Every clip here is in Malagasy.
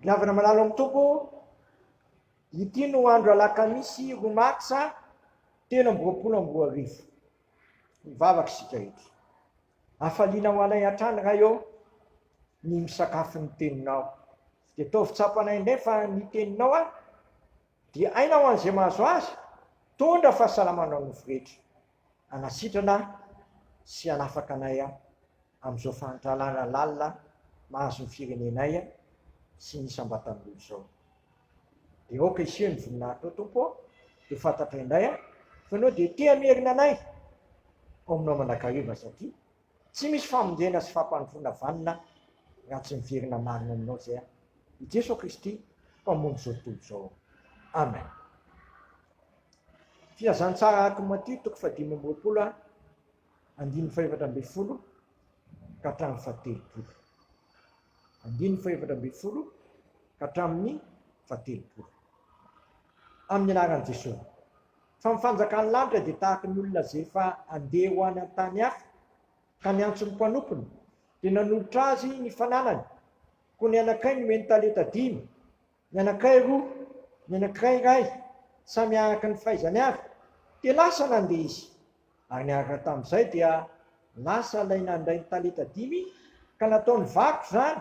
Miavana malalo amin'ny Tompo, ity no andro alakamisy roa marsa telo amby roapolo amby roa arivo. Mivavaka isika eto. Afaliana ho anay hatrany Ray ô ny misakafo ny teninao. Dia ataovy tsapanay indray fa ny teninao a dia aina ho an'izay mahazo azy, tondra fahasalamana nofy rehetra. hanasitrana sy hanafaka anay amin'izao fahantralana lalina mahazo ny firenenay sy ny isam-batan'olona izao. Dia aoka hiseho ny voninahitrao Tompo ô, dia fantatray indray aho fa Ianao dia te hamerina anay ao Aminao mandrakariva satria tsy misy famonjena sy fampandrosoana vanona raha tsy miverina marina Aminao izay aho. I Jeso Kristy, Mpamonjy izao tontolo izao. Amen. Filazantsara aky Matio toko fahadimy amby roapolo andininy fahefatra ambin'ny folo ka hatramin'ny fahatelopolo. Andininy fahefatra ambin'ny folo ka hatramin'ny fahatelopolo. Amin'ny anaran'i Jesosy. Fa ny fanjakan'ny lanitra dia tahaka ny olona izay efa andeha ho any an-tany hafa ka niantso ny mpanompony dia nanolotra azy ny fananany. Koa ny anakay nomeny talenta dimy. Ny anakay roa, ny anankiray iray, samy araka ny fahaizany avy, dia lasa nandeha izy. Ary niaraka tamin'izay dia lasa ilay nandray ny talenta dimy ka nataony vakoka izany,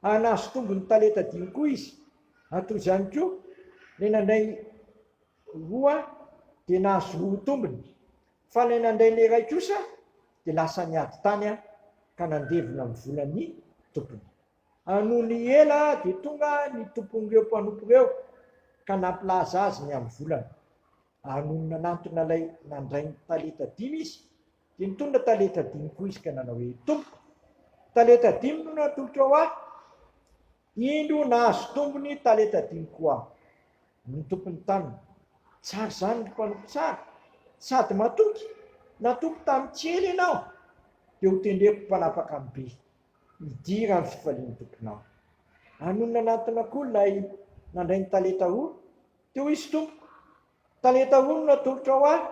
ary nahazo tombony talenta dimy koa izy. Ary toy izany koa, ilay nandray roa dia nahazo roa tombony, fa ilay nandray ny iray kosa dia lasa niady tany ka nandevina ny volan'ny tompony. Nony ela dia tonga ny tompon'ireo mpanompo ireo ka nampilaza azy ny amin'ny volany. Ary nony nanantona ilay nandray ny talenta dimy izy, dia nitondra talenta dimy koa izy ka nanao hoe, Tompoko, talenta dimy no natolotrao ahy. Indro nahazo tombony talenta dimy koa aho. Ny tompon'ny taniny, Tsara izany ry mpanompo tsara sady matoky, natoky tamin'ny tsy ela ianao, dia hotendreko ho mpanapaka amin'ny be. Midira ny fifalian'ny tomponao. Anony nanantona koa ilay nandray ny talenta roa, dia hoy izy, Tompoko, talenta roa no natolotrao ahy,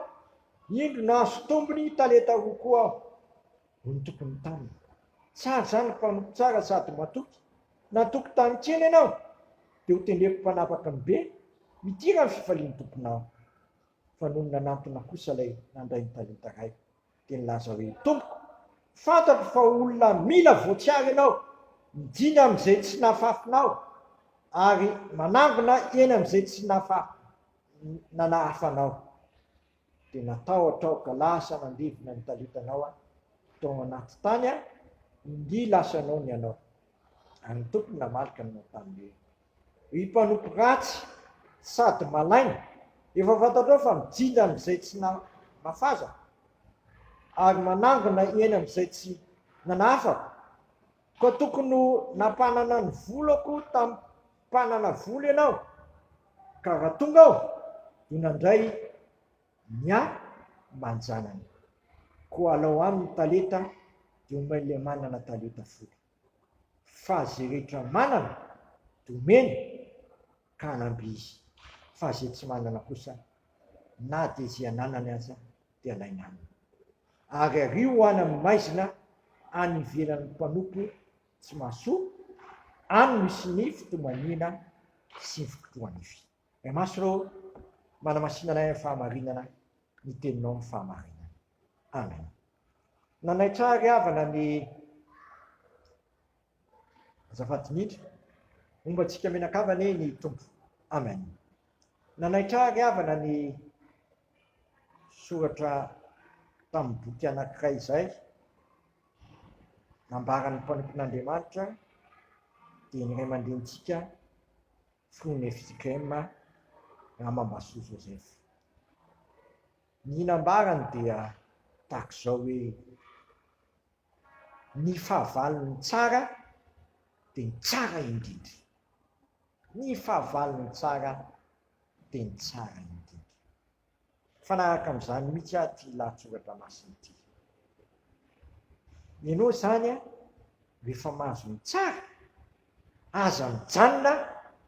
indro nahazo tombony talenta roa koa aho. Hoy ny tompon'ny tany, Tsara izany ry mpanompo tsara sady matoky, natoky tany kely ianao, dia hotendreko mpanapaka ny be, midira ny fifalian'ny tomponao. Fa nony nanantona kosa ilay nandray ny talenta iray, dia nilaza hoe, Tompoko, fantatro fa olona mila voatsiary ianao, mijiny amin'izay tsy nahafafinao, ary manangona eny amin'izay tsy nahafafinao. Dia natahotra aho ka lasa nandevina ny talitanao aho tao anaty tany aho, ingia lasa noana ianao. Ary ny Tompo namaly ka nanao taminy hoe, Ry mpanompo ratsy sady malaina, efa fantatrao fa mijinja amin'izay tsy nafazako, ary manangona eny amin'izay tsy nanafako. Koa tokony ho nampanana ny volako tamin'ny mpanana vola ianao, ka raha tonga aho, dia nandray ny ahy aman-janany. Koa alao aminy talenta dimy, dia omen'ilay manana talenta folo. fa ze rehetra manana domeny ka hanamby izy fa ze tsy manana kosa na de ze ananany aza de alainy aminy ary ario any amin'ny maizina any ivelan'ny mpanompo tsy mahasoa any misy ny fitomaniana sy ny fikotrohanify Ray Masy reo manamasinanay amin'ny fahamarinana ny teninao ny fahamarinana Amen. Nanaitra ahy ry havana ny Azafady Dimitri, homba antsika mianakavy anie ny Tompo. Amen. Nanaitra ahy ry havana ny soratra tamin'ny boky anankiray izay nambaran'ny mpanompon'Andriamanitra dia ny ray aman-drenintsika Fru Nefzikrema Ramambasoa Joseph. Ny nambarany dia tahaka izao hoe, Ny fahavalon'ny tsara dia ny tsara indrindra. Ny fahavalon'ny tsara dia ny tsara indrindra. Mifanaraka amin'izany mihitsy ary ity lahatsoratra masina ity. Ianao izany rehefa mahazo ny tsara, aza mijanona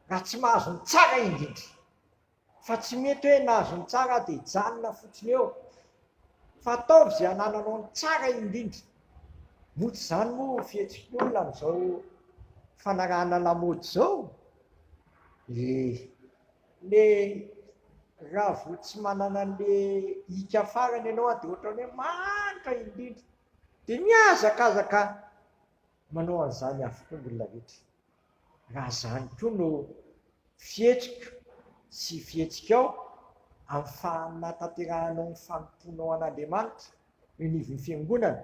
raha tsy mahazo ny tsara indrindra. Fa tsy mety hoe nahazo ny tsara aho dia hijanona fotsiny eo. Fa ataovy izay hanananao ny tsara indrindra. Moa tsy izany moa fihetsiky ny olona amin'izao fanarahana lamaody izao? Eh. Ilay raha vao tsy manana an'ilay ika farany ianao dia ohatran'ny hoe manitra indrindra. Dia mihazakazaka manao an'izany avokoa ny olona rehetra. Raha izany koa no fihetsiko sy fihetsikao amin'ny fanahatanterahanao ny fanompoanao an'Andriamanitra eo anivon'ny Fiangonana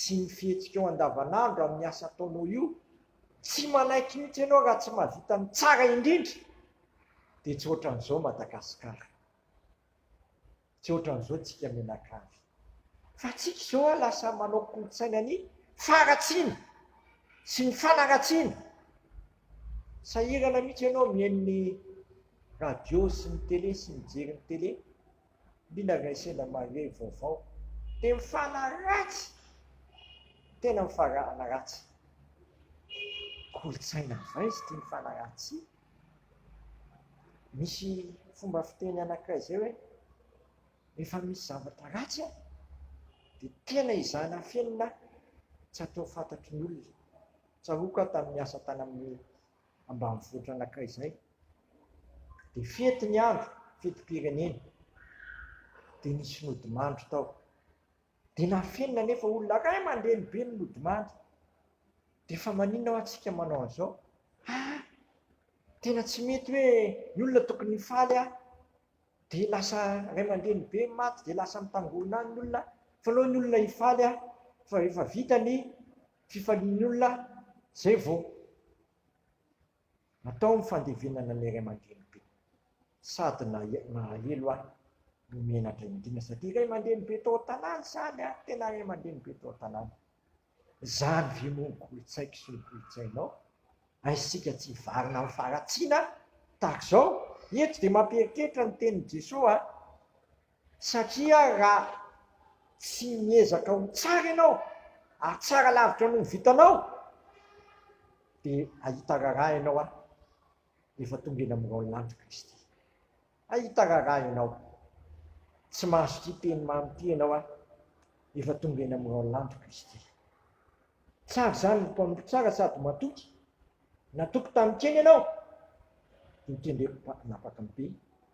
sy ny fihetsikao andavanandro amin'ny asa ataonao io, tsy manaiky mihitsy ianao raha tsy mahavita ny tsara indrindra, dia tsy ohatran'izao Madagasikara. Tsy ohatran'izao tsika mianakavy. Fa tsika izao a lasa manao kolontsaina ny faharatsiana sy ny fanaratsiana. Sahirana mihitsy ianao mihaino ny radio sy ny tele sy mijery ny tele. Mila resena mahery vaovao. Dia mifanaratsy. Tena mifarahana ratsy. Kolontsaina avy aiza ity mifanaratsy ity? Misy fomba fiteny anankiray izay hoe, rehefa misy zavatra ratsy an, dia tena ezahina afenina an, tsy hatao fantatry ny olona. Tsaroako aho tamin'ny niasa tany amin'ny ambanivohitra anankiray izay, dia fety ny andro, fetim-pirenena, dia nisy nodimandry tao. Dia nafenina anefa olona ray aman-dreny be ny nodimandry. Dia fa maninona hoa tsika manao an'izao? Ah! Tena tsy mety hoe ny olona tokony hifaly ah! Dia lasa ray aman-dreny be maty dia lasa mitangorona any ny olona fa aleo ny olona hifaly ah! Fa efa vita ny fifalian'ny olona zay vao. Atao ny fandevenana ny ray aman-drenibe. Sady nahahelo ahy no menatra indrindra satria ray aman-drenibe tao an-tanàna izany a! Tena ray aman-drenibe tao an-tanàna. Izany ve moa no kolontsaiko sy ny kolontsainao? Haintsika tsy hivarina amin'ny faharatsiana tahaka izao. Eto dia mampieritreritra ny tenin'i Jesoa a! Satria raha tsy miezaka ho tsara ianao, hahatsara lavitra noho ny vitanao, dia hahita raharaha ianao ary efa tonga eny amin'ny raolin'andro Kristy. Hahita raharaha ianao. Tsy mahazo ity teny mamy ity ianao ary efa tonga eny amin'ny raolin'andro Kristy. Tsara izany ny mpanompo tsara sady matoky. Natoky tamin-kena ianao, dia kendreko hanapaka ny be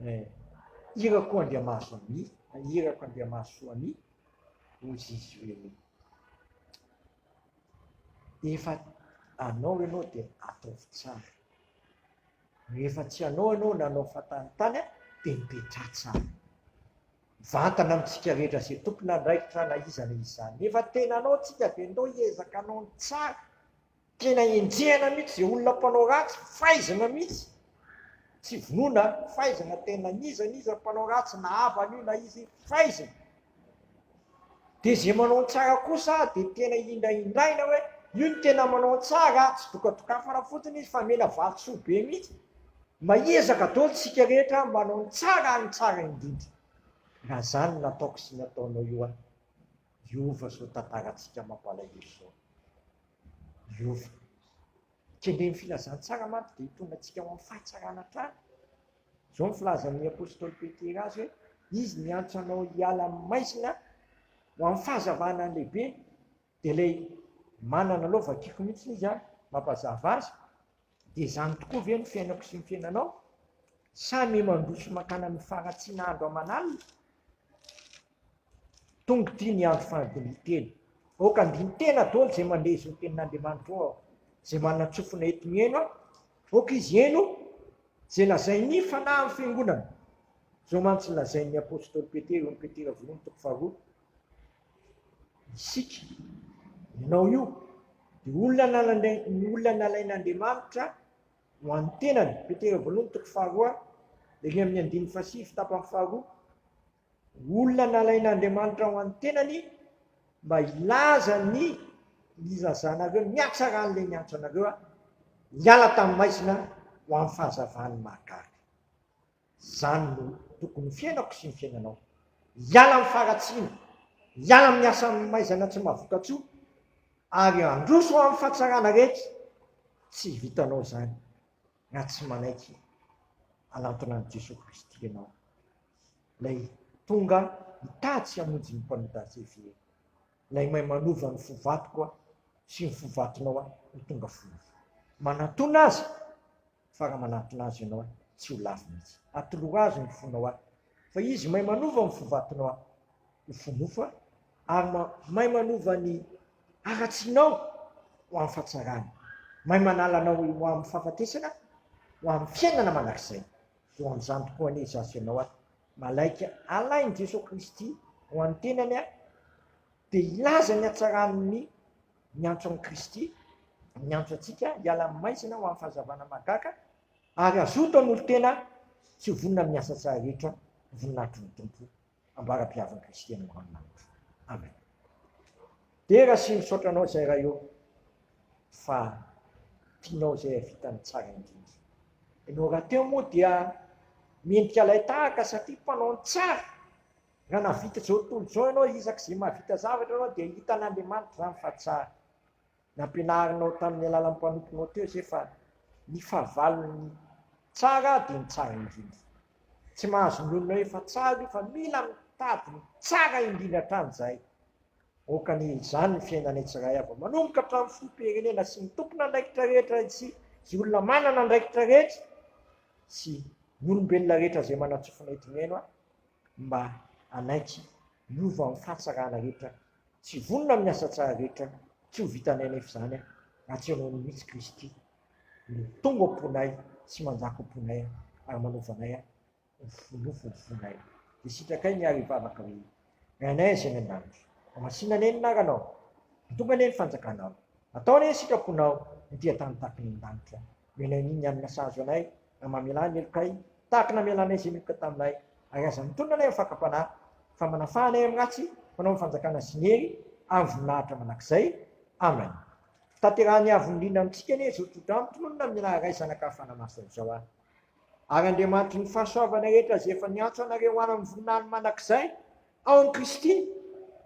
Eh, irako Andriamaso ami, irako Andriamaso ami, hoy Zizy hoe efa anao ianao dia ataovy tsara. No efa tsy anao ianao nanao fatanitany a, dia mipetra tsara. Vantana amintsika rehetra izay tompona andraikitra na iza na iza. Efa tena anao tsika dia ndao hiezaka anao ny tsara. Tena enjehina mihitsy izay olona mpanao ratsy, faizina mihitsy, tsy vonoina an, faizina tena n'iza n'iza mpanao ratsy na havana io na izy faizina. Dia izay manao ny tsara kosa dia tena hindrahindraina hoe io ny tena manao ny tsara, tsy dokadokafana fotsiny izy fa mena vatosoa be mihitsy. Mahiezaka daholo isika rehetra manao ny tsara ary ny tsara indrindra. Raha izany no nataoko sy ny ataonao io an, Hiova zao tantarantsika mampalahelo zao. Hiova. Kendren'ny filazantsara manko dia hitondra antsika ho amin'ny fahatsarana hatrany. Zao ny filazan'ny apostoly Petera azy hoe, izy niantso anao hiala amin'ny maizina ho amin'ny fahazavana ny lehibe. Dia ilay manana lova akiko mihitsy izy an, mampazava azy. Dia izany tokoa ve ny fiainako sy ny fiainanao? Sa ny mandroso mankany amin'ny faharatsiana andro aman'alina? Tonga ity ny andro fahadininteny. Aoka handini-tena daholo izay mandeha izao tenin'Andriamanitra eo aho, izay manana tsofina eto mihaino aho. Aoka izy hihaino izay lazain'ny fanahy amin'ny fiangonana. Izao mantsy no lazain'ny apostoly Petera eo amin'ny Petera voalohany toko faharoa, Isika, ianao io, dia olona olona nalain'Andriamanitra ho an'ny tenany, Petera voalohany toko faharoa, ery amin'ny andininy fahasivy tapany faharoa, Olona nalain'Andriamanitra ho an'ny tenany mba hilaza ny nilazanareo, ny hatsaran'ilay niantso anareo hiala tamin'ny maizina ho amin'ny fahazavan'ny mahagaga. Izany no tokony ho fiainako sy ny fiainanao. Hiala amin'ny faharatsiana, hiala amin'ny asa amin'ny maizana tsy mahavokatsoa, ary handroso ho amin'ny fahatsarana rehetra. Tsy vitanao izany raha tsy manaiky hanantona an'i Jesoa Kristy ianao. Ilay tonga mitady sy hamonjy ny mpanota CV e. Ilay mahay manova ny fo vadiko aho sy ny fo vadinao aho ho tonga fonofo. Manatona azy fa raha manatona azy ianao aho tsy ho lavo mihitsy. Atolory azy ny fonao aho fa izy mahay manova ny fo vadinao aho ho fonofo aho ary mahay manova ny haratsianao ho amin'ny fahatsarana. Mahay manala anao ho amin'ny fahafatesana ho amin'ny fiainana mandrakizay. Voanjany tokoa anie izaho sy ianao ary malaika alain'i Jesoa Kristy ho an'ny tenany ary dia hilaza ny hatsaran'ny miantso an'i Kristy, miantso antsika hiala amin'ny maizina ho amin'ny fahazavana mahagaga ary hazoto hanolo-tena sy ho vonona amin'ny asa tsara rehetra voninahitr'i ny Tompo. ambara-piavan'i Kristy any amin'ny lanitra. Amen. Dera sy misaotra anao izay raha eo fa tianao izay havita ny tsara indrindra. Ianao raha teo moa dia mendrika ilay tahaka satria mpanao ny tsara. Raha navita izao tontolo izao ianao izak'izay mahavita zavatra ianao dia hitan'Andriamanitra izany fa tsara. Nampianarinao tamin'ny alalan'ny mpanomponao teo izay fa ny fahavalon'ny tsara dia ny tsara indrindra. Tsy mahazo mionona hoe efa tsara io fa mila mitady ny tsara indrindra hatrany izahay. Aoka anie izany ny fiainanay tsirairay avy manomboka hatramin'ny filoham-pirenena sy ny tompon'andraikitra rehetra sy izay olona manana andraikitra rehetra sy ny olombelona rehetra izay manantsofina eto mihaino ahy mba hanaiky hiova amin'ny fahatsarana rehetra Tsy vonona amin'ny asa tsara rehetra tsy ho vitanay anefa izany aho, raha tsy ianao mihitsy Kristy no tonga ao am-ponay sy manjaka ao am-ponay ary manaova anay ho fonofo ny fonay. Dia sitrakay ny ary hivavaka hoe, Ray anay Azỳ any an-danitra, mamasina anie ny anaranao. Ho tonga anie ny fanjakanao. Atao anie ny sitraponao ho dia tany tahaka ny an-danitra. Mila an'iny ny alina sahazo anay, raha mamelà ny helokay, tahaka ny namelanay izay niheloka taminay. Ary aza mitonona anay amin'ny fakam-panahy, fa manafaha anay amin'ny ratsy, fanao ny fanjakana sy ny hery ary ny voninahitra mandrakizay. Amen. Tanterahan'ny Avon'ny Liana amintsika anie izao tsotra amiko, tononina amin'ny Lahy Ray, Zanaka ary Fanahy Masina izao aho. Ary Andriamanitry ny fahasoavana rehetra izay efa niantso anareo hoany amin'ny voninahiny mandrakizay ao amin'i Kristy,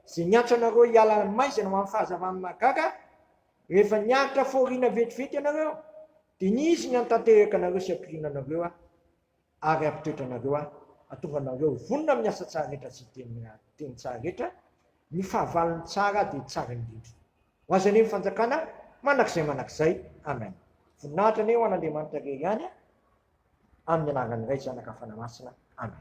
izay niantso anareo hiala amin'ny maizina ho amin'ny fahazavan'ny mahagaga, Rehefa niaritra fahoriana vetivety ianareo, dia ny izy ny hantanteraka anareo sy hampirina anareo aho ary hampitoetra anareo aho, hahatonga anareo ho vonona amin'ny asa tsara rehetra sy hiteny teny tsara rehetra, ny fahavalony tsara dia tsara indrindra. Ho azy anie ny fanjakana mandrakizay mandrakizay. Amen. Voninahitra anie ho an'Andriamanitra irery ihany, amin'ny anaran'ny Ray, Zanaka, Fanahy Masina. Amen.